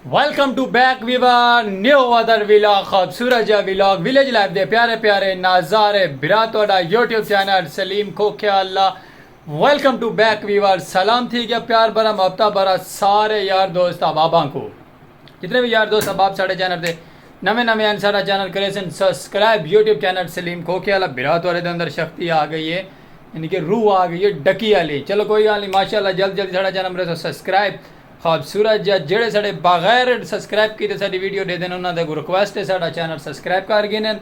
Welcome to back viewer new other vlog خوبصورت جا vlog village life دے پیارے پیارے نظارے برا تہاڈا یوٹیوب چینل سلیم کھوکھیا Allah welcome to back viewer سلام تھی گیا پیار بھرا محبتہ بھرا سارے یار دوست احباباں کو جتنے وی یار دوست احباب ساڈے چینل تے نویں نویں ہن ساڈا چینل کریسن سبسکرائب یوٹیوب چینل سلیم کھوکھے والا بھرا تہاڈے دے اندر شکتی آ گئی ہے یعنی کہ روح آ گئی ہے ڈکی والی چلو کوئی گل نہیں ماشاءاللہ جلد جلد ساڈا چینل مرے سبسکرائب خوبصورت جا جڑے ساڈے بغیر سبسکرائب کیتے ساڈی ویڈیو ڈیدن انہاں دے اگوں ریکویسٹ ہے ساڈا چینل سبسکرائب کر گھنن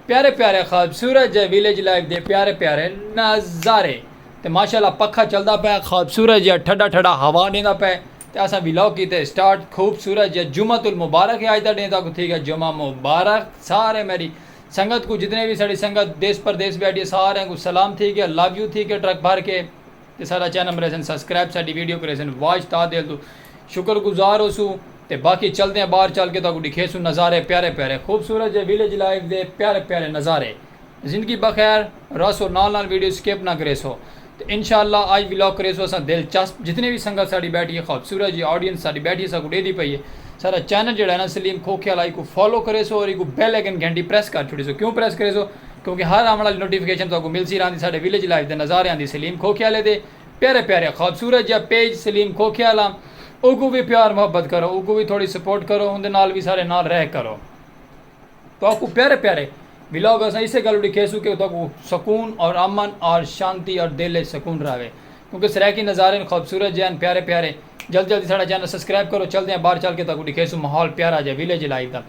پیارے پیارے خوبصورت جے ویلیج لائف دے پیارے پیارے نظارے تے ماشاءاللہ پکھا چلدا پیا خوبصورت جا ٹھڈا ٹھڈا ہوا ڈیندا پیا تے اساں ولاگ کیتے اسٹارٹ خوبصورت جیہا جمعۃ المبارک ہے اج دا ڈینہہ تہاکوں تھی گیا جمعہ مبارک سارے میڈی سنگت کوں جتنے وی ساڈی سنگت دیس پردیس بیٹھی ہے ساریاں کوں سلام تھی گیا لو یو تھی گیا ٹرک بھر کے تے ساڈا چینل مریسن سبسکرائب ساڈی ویڈیو کریسن واچ تاں دل توں شکر گزار ہوسوں تے باقی چلدے ہاں باہر چل کے تہاکوں ڈکھیسوں نظارے پیارے پیارے خوبصورت جیہے ولیج لائف دے پیارے پیارے نظارے۔ زندگی بخیر رہسو نال نال ویڈیو سکپ نہ کریسو تے انشاء اللہ آج ولاگ کریسو اساں دل چسپ جتنے وی سنگت ساڈی بیٹھی ہے خوبصورت جی آڈینس ساڈی بیٹھی اساں کوں ڈیدی پئی ہے ساڈا چینل جیڑا ہے نا سلیم کھوکھیالہ ایکوں فالو کریسو اور ایکوں بیل آئیکن گھنٹی پریس کر چھوڑیسو کیوں پریس کریسو کیونکہ ہر آون آلی نوٹیفکیشن تہاکوں ملسی راہندی ساڈے ویلیج لائف دے نظاریاں دی سلیم کھوکھیالے دے پیارے پیارے خوبصورت جیہا پیج سلیم کھوکھیالہ اوکوں وی پیار محبت کرو اوکوں وی تھوڑی سپورٹ کرو اوندے نال وی ساڈے نال رہ کرو۔ تہاکوں پیارے پیارے ولاگ اساں اسے گالوں ڈکھیسوں کہ تہاکوں سکون اور امن اور شانتی اور دل اچ سکون راہوے کیونکہ سرائیکی نظارے ہن خوبصورت جے ہن پیارے پیارے جلدی جلدی ساڈا چینل سبسکرائب کرو چلدے ہاں باہر چل کے تہاکوں ڈکھیسوں ماحول پیارا جے ویلیج لائف دا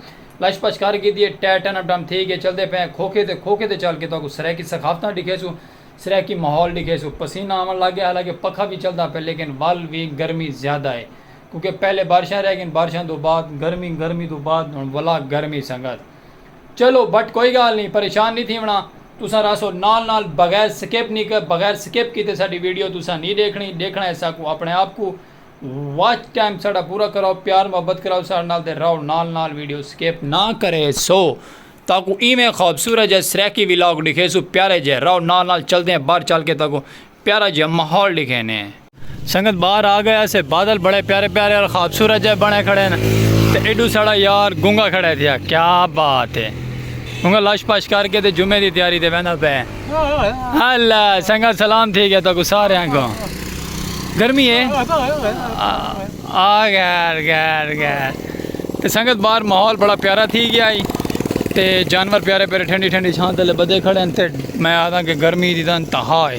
لش پش کر گھیدی اے ٹے ٹن اپ ڈاؤن تھی گئے چلدے پئے ہیں کھوکھے تے کھوکھے تے چل کے تہاکوں سرائیکی ثقافتاں ڈکھیسوں سرائیکی ماحول ڈکھیسوں پسینہ آون لگ گیا حالانکہ پکھا وی چلدا پئے لیکن ول وی گرمی زیادہ اے کیونکہ پہلے بارشاں رہ گئین بارشاں توں بعد گرمی گرمی توں بعد ہن ولا گرمی سنگت چلو بٹ کوئی گال نی پریشان نی تھیونڑا تساں رہسو نال نال بغیر سکپ نی بغیر سکپ کیتے ساڈی ویڈیو تساں نی ڈیکھنڑی ڈیکھنڑا ہے ساکوں اپنڑے آپ کوں واچ ٹائم ساڈا پورا کراؤ پیار محبت کراؤ ساڈے نال تے رہو نال نال ویڈیو سکپ نہ کرے سو تاکوں ایویں خوبصورت جہے سرائیکی ولاگ ڈکھیسو پیارے جہے رہو نال نال چلدے ہیں بار چل کے تاکوں پیارا جہا ماحول ڈکھینے۔ سنگت باہر آ گئے اسے بادل بڑے پیارے پیارے اور خوبصورت جائے بنے کھڑے ہیں تے ایڈو ساڑا یار گنگا کھڑے تھیا کیا بات ہے گنگا لش پش کر کے تے جمعے دی تیاری تے بہنا پہ اللہ سنگت سلام تھی گیا تو کو سارے ہیں کو گرمی ہے آ گیر گیر گیر تے سنگت باہر ماحول بڑا پیارا تھی گیا ہی تے جانور پیارے پیارے ٹھنڈی ٹھنڈی چھان تلے بدے کھڑے ہیں تے میں آدھا کہ گرمی دی تن تہا ہے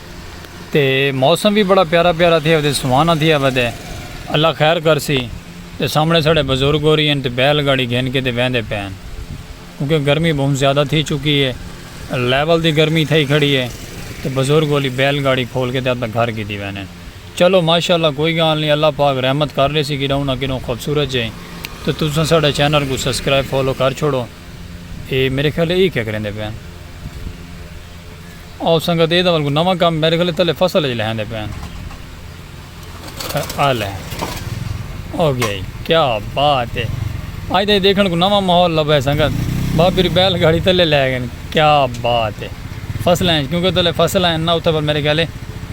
تے موسم وی بڑا پیارا پیارا تھیا ودے سوہانا تھیا ودے اللہ خیر کرسی تے سامنے ساڑے بزرگ ہوری ہن تے بیل گاڑی گھن کے تے ویندے پئے ہن کیونکہ گرمی بہوں زیادہ تھی چکی ہے لیول دی گرمی تھئی کھڑی ہے تے بزرگ ہولی بیل گاڑی کھول کے تے اپنے گھر گھدی ویندے ہن چلو ماشاءاللہ کوئی گال نی اللہ پاک رحمت کر لیسی کڈوں نہ کڈوں خوبصورت جئیں تے تساں ساڑے چینل کوں سبسکرائب فالو کر چھوڑو۔ اے میرے خیال اے کیا کریندے پے ہن۔ او سنگت اے دا ول کوئی نواں کم میرے خیال تلے فصل اچ لہیندے پے ہن۔ آ لے او گیا ہی کیا بات اے اج دے دیکھن کوئی نواں ماحول لبھے سنگت بھا پھر بیل گھاڑی تلے لے گئے کیا بات اے فصل ایں کیونکہ تلے فصل ایں نہ اتھے پر میرے خیال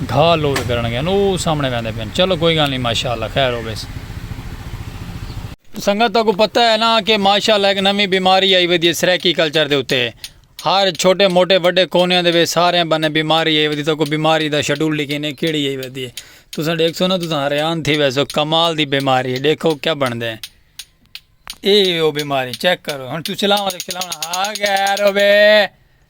گھا لوڈ کرن گے او سامنے ویندے پے ہن چلو کوئی گل نہیں ماشاءاللہ خیر ہو ویسی۔ سنگت تہاکوں پتہ ہے نا کہ ماشاءاللہ ہک نویں بیماری آئی ودی ہے سرائیکی کلچر دے اتے۔ ہر چھوٹے موٹے وڈے کونیاں دے وچ ساریاں بنیں بیماری آئی ودی تہاکوں بیماری دا شیڈول ڈکھینے کیڑی آئی ودی ہے تساں ڈیکھسو نا تساں حریان تھی ویسو کمال دی بیماری ہے ڈیکھو کیا بندے ہیں اے او بیماری چیک کرو ہن تساں چلاؤ ہا گیر ہوے۔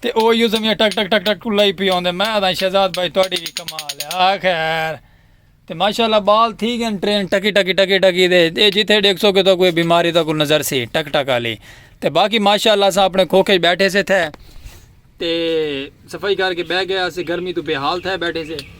تے او ایہو زمیاں ٹک ٹک ٹک ٹک کلائی پی آندے میں آدھاں شہزاد بھائی تہاڈی وی کمال ہے آ خیر تے ماشاءاللہ بال تھی گن ٹرین ٹکی ٹکی ٹکی ٹکی دے اے جتھے ڈیکھسو کہ تہاکوں اے بیماری تہاکوں نظر سی ٹک ٹک آلی تے باقی ماشاءاللہ اساں اپنے کھوکھے وچ بیٹھے سے تھے تے صفائی کر کے بہہ گئے اسے گرمی تو بے حال تھے بیٹھے سے